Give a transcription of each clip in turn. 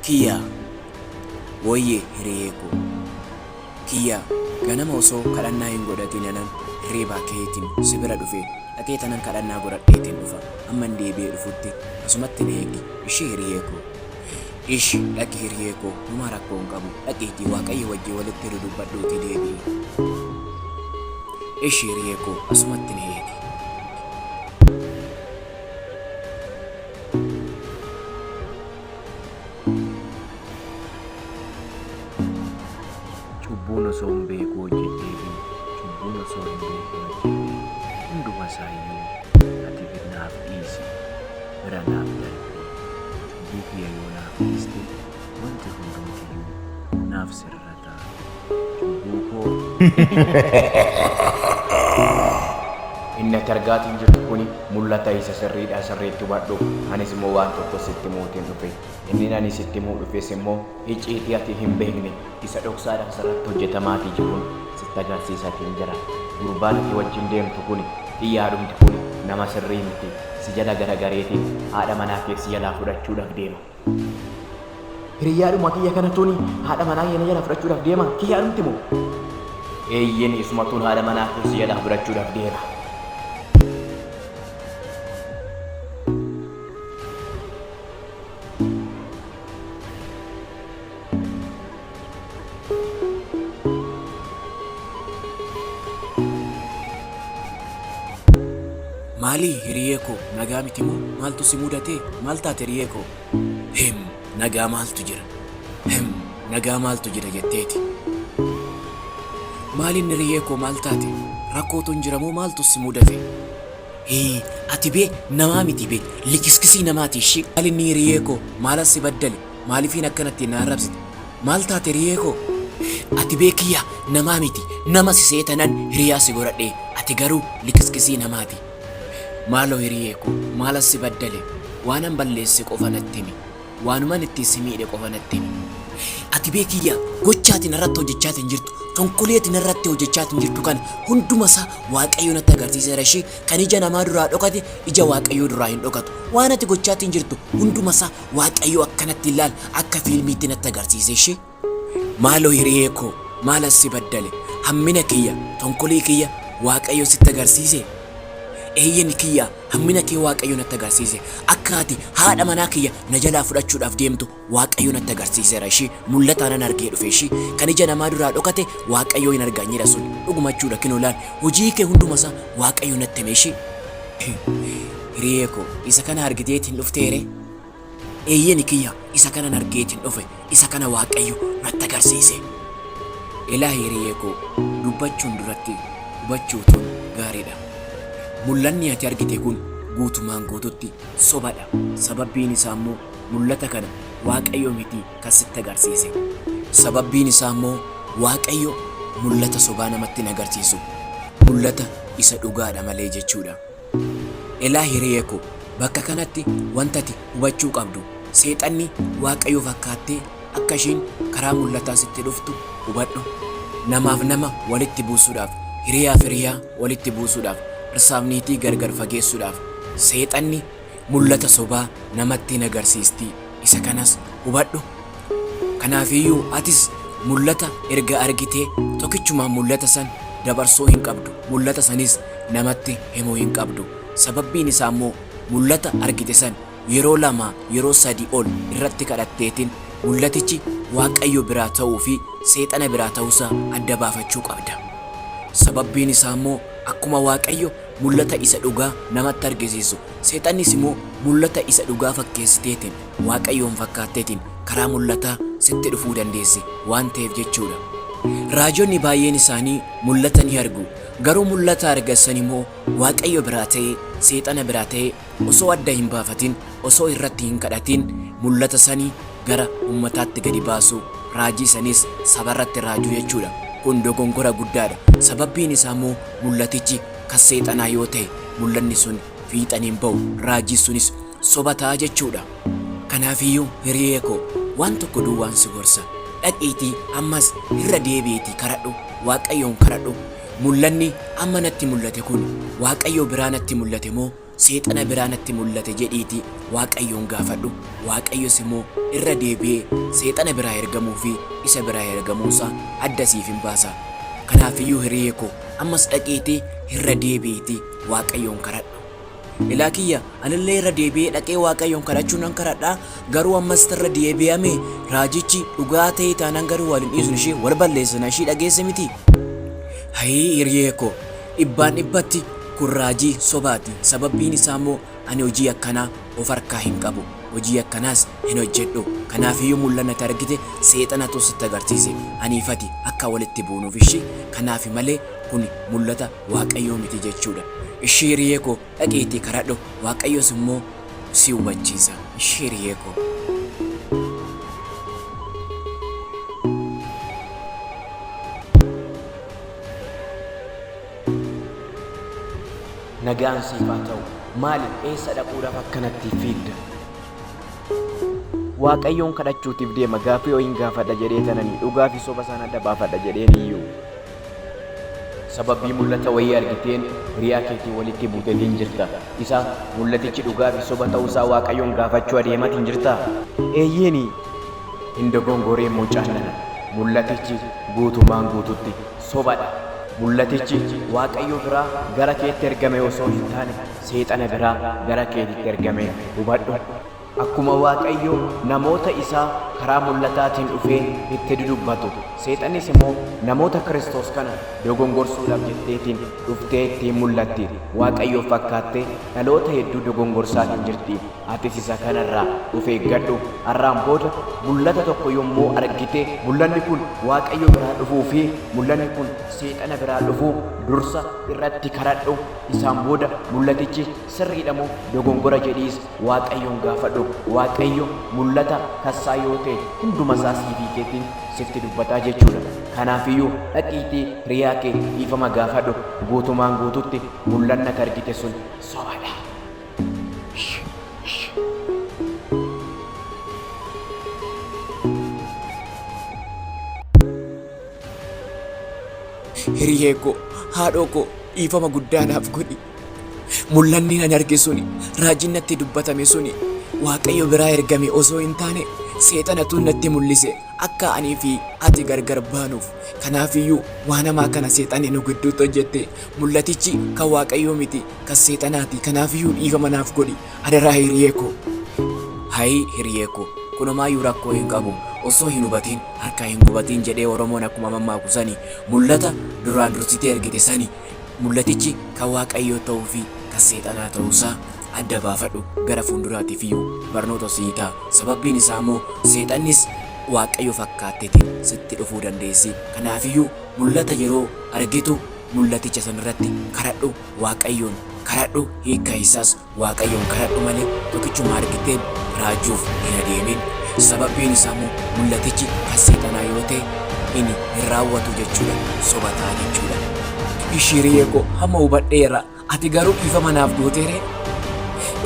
Kiyyaa Woyye hiriyee koo. Kiyyaa Ganama osoo kadhannaa hin godhatiin anan hirriibaa ka'eetiin si bira dhufe dhaqee tanan kadhannaa godhadheetiin dhufa amman deebi'ee dhufutti asumatti na eegi ishii hiriyee koo. Ish dhaqi hiriyee koo homaa rakkoo hin qabu dhaqiitii waaqayyo wajjii walitti dudubbadhuutii deebi'i. Ish hiriyee koo asumatti na eegi. Cubbuun osoon beekuu hojjedheefi cubbuun osoo hin beekin hojjedhe hundumaasaayuu ati gad naaf dhiisi, bira naaf darbi. Cubbuu kiyya yoo naaf dhiiste wanti hundumtiyyuu naaf sirrata. Cubbuu koo. Inni ati argaatiin jirtu kuni mul'ata isa sirriidhaa sirriitti hubadhu. Anis immoo waan tokko sitti himuutiin dhufe. Inni ani sitti himuu dhufes immoo icciitii ati hin beekne isa dhoksaadhaan sirratti hojjetamaatii jiruun sitti agarsiisaatiin jira. Gurbaan ati wajjin deemtu kuni xiyyaadhumti kuni nama sirrii miti. Si jala garagareetiin haadha manaa kee si jalaa fudhachuudhaaf deema. Hiriyyaadhuma kiyya kanatuuni haadha manaa kiyya na jalaa fudhachuudhaaf deema kiyyaadhumti moo? Eeyyeen isumatuun haadha manaa kee si jalaa fudhachuudhaaf deema. Maalii hiriyee koo nagaa miti moo maaltu si mudatee maal taate hiriyee koo Him nagaa maaltu jira Him nagaa maaltu jira jetteeti Maalin hiriyee koo maal taate rakkootun jira moo maaltu si mudate Hii ati bee namaa miti bee likiskisii namaati ishii Maalin hiriyee koo maalan si baddale Maalifiin akkanatti na arrabsite? Maal taate hiriyee koo? Ati bee kiyya namaa miti. Nama si se'e tanan hiriyaa si godhadhe. Ati garuu liqiskisii namaati. Maaloo hiriyee koo maalan si baddale? Waanan balleesse qofa natti himi. Waanuman ittiin si miidhe qofa natti himi. Ati bee kiyya gocha ati narratti hojjechaatiin jirtu, tonkolii ati narratti hojjechaatiin jirtu kana hunduma isaa Waaqayyo natti agarsiiseera ishii. Kan ija namaa duraa dhokate ija Waaqayyoo duraa hin dhokatu. Waan ati gochaatiin jirtu hunduma isaa Waaqayyo akkanatti hin laal akka fiilmiitti natti agarsiise ishii maaloo hiriyee koo maalan si baddale hammina kiyya tonkolii kiyya Waaqayyo sitti agarsiise eeyyen kiyya hammina kee Waaqayyo natti agarsiise akka ati haadha manaa kiyya na jalaa fudhachuudhaaf deemtu Waaqayyo natti agarsiiseera ishii mul'ataanan argee dhufe ishii kan ija namaa duraa dhokate Waaqayyo hin argaanyeera sun dhugumachuudha kinoo laal hojii kee hunduma isaa Waaqayyo natti hime ishii Hiriyee koo, isa kana argiteetiin dhuftee ree? Eeyyeni kiyya, isa kanan argeetiin dhufe, isa kana Waaqayyo natti agarsiise. Elah hiriyee koo, dubbachuun duratti hubachuutuun gaariidha. Mul'anni ati argite kun guutumaan guututti sobadha, sababbiin isaammoo mul'ata kana Waaqayyo mitii kan sitti agarsiise. Sababbiin isaa immoo Waaqayyo mul'ata sobaa namatti hin agarsiisu. Mul'ata isa dhugaadha malee jechuudha. Elaa hiriyee koo, bakka kanatti wanta ati hubachuu qabdu, Seexanni Waaqayyo fakkaattee akka isheen karaa mul'ataa sitti dhuftu hubadhu. Namaaf nama walitti buusuudhaaf, hiriyaaf hiriyaa walitti buusuudhaaf, dhirsaaf niitii gargar fageessuudhaaf Seexanni Mul'ata sobaa namatti hin agarsiisti, isa kanas hubadhu. Kanaafiyyuu atis mul'ata erga argitee tokichumaan mul'ata san dabarsuu hin qabdu, mul'ata sanis namatti himuu hin qabdu. Sababbiin isaa immoo mul'ata argite san yeroo lama, yeroo sadi ol irratti kadhatteetin mul'atichi Waaqayyo biraa ta'uu fi seexana biraa ta'uusaa adda baafachuu qabda. Sababbiin isaa immoo akkuma Waaqayyo mul'ata isa dhugaa namatti argisiisu Seexannis immoo mul'ata isa dhugaa fakkeessiteetiin, Waaqayyoon fakkaatteetiin, karaa mul'ataa sitti dhufuu dandeessi waan ta'eef jechuu dha. Raajonni baay'een isaanii mul'ata ni argu, garuu mul'ata argan sana immoo Waaqayyo biraa ta'ee seexana biraa ta'ee osoo adda hin baafatin, osoo irratti hin kadhatin mul'ata sana gara uummataatti gadi baasuu, raajii sanas saba irratti raajuu jechuu dha. Kun dogongora guddaa dha, sababbiin isaa immoo mul'atichi kan seexanaa yoo ta'e mul'anni sun fiixan hin ba'u, raajiin sunis soba ta'a jechuu dha. Kanaaf iyyuu hiriyee koo waan tokko duwwaan si gorsa, dhaqiitii ammas irra deebi'iitii kadhadhu, Waaqayyoon kadhadhu, mul'anni amma natti mul'ate kun Waaqayyoo biraa natti mul'ate moo Seexana biraa natti mul'ate jedhiitii Waaqayyoon gaafadhu, Waaqayyos immoo irra deebi'ee Seexana biraa ergamuu fi isa biraa ergamuu isaa adda siif in baasa. Kanaaf iyyuu hiriyee koo, ammas dhaqiitii irra deebi'iitii Waaqayyoon kadhadhu. Ilaa kiyya, ani illee irra deebi'ee dhaqee Waaqayyoon kadhachuu nan kadhadha, garuu ammas irra deebi'ame raajichi dhugaa ta'ee taanaan garuu wal hin dhiisnu ishee, wal balleessina, ishii dhageesse mitii? Hayii hiriyee koo! Dhibbaan dhibbatti kun raajii sobaati sababbiin isaa immoo ani hojii akkanaa of harkaa hin qabu hojii akkanaas hin hojjedhu kanaaf yoo mul'anna ati argite seexanatu sitti agarsiise aniif ati akka walitti buunuuf ishi kanaafi malee kuni mul'ata waaqayyoo miti jechuudha ishi hiriyee koo dhaqiitii kadhadhu waaqayyos immoo si hubachiisa ishi hiriyee koo. Nagaan siif haa ta'u. Maali eessa dhaquudhaaf akkanatti fiigda? Waaqayyoon kadhachuutiif deema gaaffii ho'iin gaafadha jedhee tananii dhugaa fi soba isaan adda baafadha jedheen iyyuu. Sababii mul'ata wayii argiteen hiriyaa keetii walitti buutetiin jirta. Isa mul'atichi dhugaa fi soba ta'uusaa Waaqayyoon gaafachuu adeematiin jirtaa? Eeyyeeni. Hin dogongoriin mucaan nana. Mul'atichi guutumaan guutuutti soba dha. Mul'atichi Waaqayyo biraa gara keetti ergame osoo hin taane, seexana biraa gara keetitti ergame hubadhu. Akkuma Waaqayyo namoota isaa karaa mul'ataatiin dhufee itti dudubbatu, seexannis immoo namoota Kiristoos kana dogongorsuudhaaf jetteetiin dhuftee ittiin mul'atti. Waaqayyoof fakkaattee dhaloota hedduu dogongorsaa hin jirti. Atis isa kana irraa of eeggadhu. Har'aan booda mul'ata tokko yommuu argite, mul'anni kun Waaqayyo biraa dhufuu fi mul'anni kun Seexana biraa dhufuu dursa irratti karadhu. Isaan booda mul'atichi sirriidha moo dogongora jedhiis Waaqayyoon gaafadhu. Waaqayyo mul'ata tassaa yoo ta'e hunduma isaa siifii keetiin sifti dubbataa jechuudha. Kanaafiyyuu dhaqiitii hiriyaa kee dhiifama gaafadhu. Guutumaan guututti mul'anni ati argite sun sobadha. Hiriyee koo, haadhoo koo dhiifama guddaa naaf godhi. Mul'anni ani arge suni, raajiin natti dubbatame suni Waaqayyo biraa ergame osoo hin taane seexanatu natti mul'ise akka anii fi ati gargar baanuuf. Kanaafiyyuu waan hamaa kana seexanni nu gidduutti hojjette mul'atichi kan Waaqayyoo miti. Kan seexanaati kanaafiyyuu dhiifama naaf godhi adaraa hiriyee koo. Hayi hiriyee koo kun omaayyuu rakkoo hin qabu ossoo hin hubatiin harkaa hin gubatiin jedhee oromoon akkuma mammaaku sani mullata duraa dursitee ergite sani mullatichi kan waaqayyoo ta'uu fi kan seexanaa ta'uu isaa adda baafadhu gara fuunduraatifiyyuu barnoota sii ta'a sababbiin isaa immoo seexannis waaqayyo fakkaatteetiin sitti dhufuu dandeessi kanaafiyyuu mullata yeroo argitu Mul'aticha san irratti karadhu Waaqayyoon karadhu hiikka isaas Waaqayyoon karadhu malee tokkichuma argiteen raajuuf hin adeemin sababbiin isaa immoo mul'atichi kan seexanaa yoo ta'e inni hin raawwatu jechuudha soba ta'a jechuudha. Ishiriyee koo hamma hubadheera. Ati garuu dhiifama naaf gootee ree?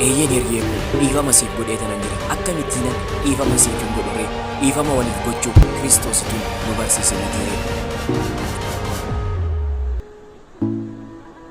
Eeyyeen hiriyee koo, dhiifama siif godheetanan jira. Akkamittiinan dhiifama siif hin godhu ree? Dhiifama waliif gochuu Kiristoositu nu barsiise mitii ree?